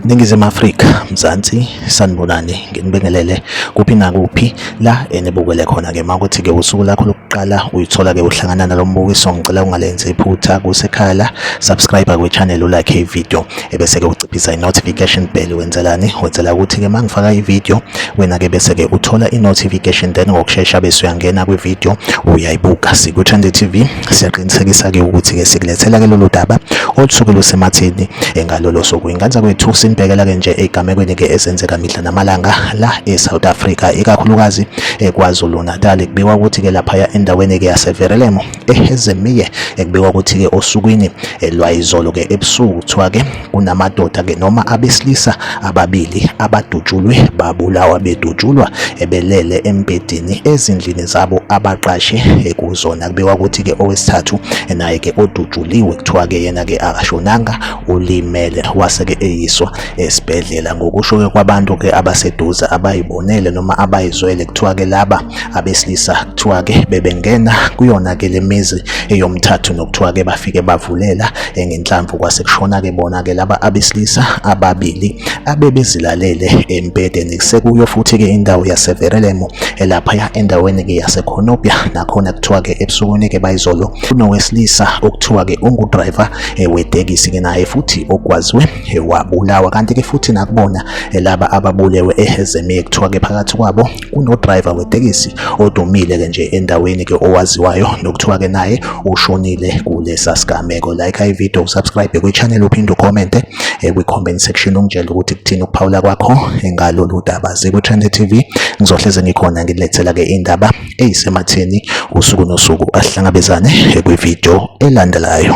Ningizimu Afrika, Mzansi, sanibonani, nginibingelele kuphi nakuphi la enibukele khona ke makuthi ke usuku lakho lokuqala uyithola ke uhlangana nalombukiso ngicela ungalenzi iphutha kusekhaya la subscribe kwi channel ulike video ebese-ke uciphisa i-notification bell wenzelani wenzela ukuthi-ke uma ngifaka i-video wena-ke bese-ke uthola i-notification then ngokushesha bese uyangena kwi-video uyayibuka siku-trend tv siyaqinisekisa-ke ukuthi-ke sikulethela-ke lolu daba olusuke lusematheni engalolo suku inganza kwethu sinibhekela-ke nje ey'gamekweni-ke ezenzeka mihla namalanga la e-south africa ikakhulukazi ekwazulu-natal kubikwa ukuthi-ke laphaya endaweni-ke yaseverelemo ehezemiye ekubikwa ukuthi-ke osukwini eh, lwayizolo-ke ebusuku kuthiwa-ke kunamadoda-ke noma abesilisa ababili abadutshulwe babulawa bedutshulwa ebelele embedini ezindlini zabo abaqashe eh, kuzona kubikwa ukuthi-ke owesithathu eh, naye-ke odutshuliwe kuthiwa-ke yena-ke akashonanga ulimele wase-ke eyiswa esibhedlela ngokusho-ke kwabantu-ke abaseduze abayibonele noma abayizwele kuthiwa-ke laba abesilisa kuthiwa ke bebengena kuyona ke lemizi eyomthathu nokuthiwa ke bafike bavulela ngenhlamvu kwase kushona ke bona ke laba abesilisa ababili abebezilalele empedeni kusekuyo futhi ke indawo yaseverelemo elapha endaweni ke yasekhonopya nakhona kuthiwa ke ebusukwini ke bayizolo kunowesilisa okuthiwa ke ungudriver eh, wetekisi ke naye futhi okwaziwe eh, wabulawa kanti ke futhi nakubona eh, laba ababulewe ehezemiye kuthiwa ke phakathi kwabo kunodriver wetekisi odumile ke nje endaweni ke owaziwayo nokuthiwa ke naye ushonile kulesa sigameko like i video subscribe kwi channel uphinde ucommente eh, kwi comment section ungitshela ukuthi kuthini ukuphawula kwakho ngalolu daba ziku trend tv ngizohleze ngikhona ngilethela ke indaba eyisematheni usuku nosuku asihlangabezane eh, kwi video elandelayo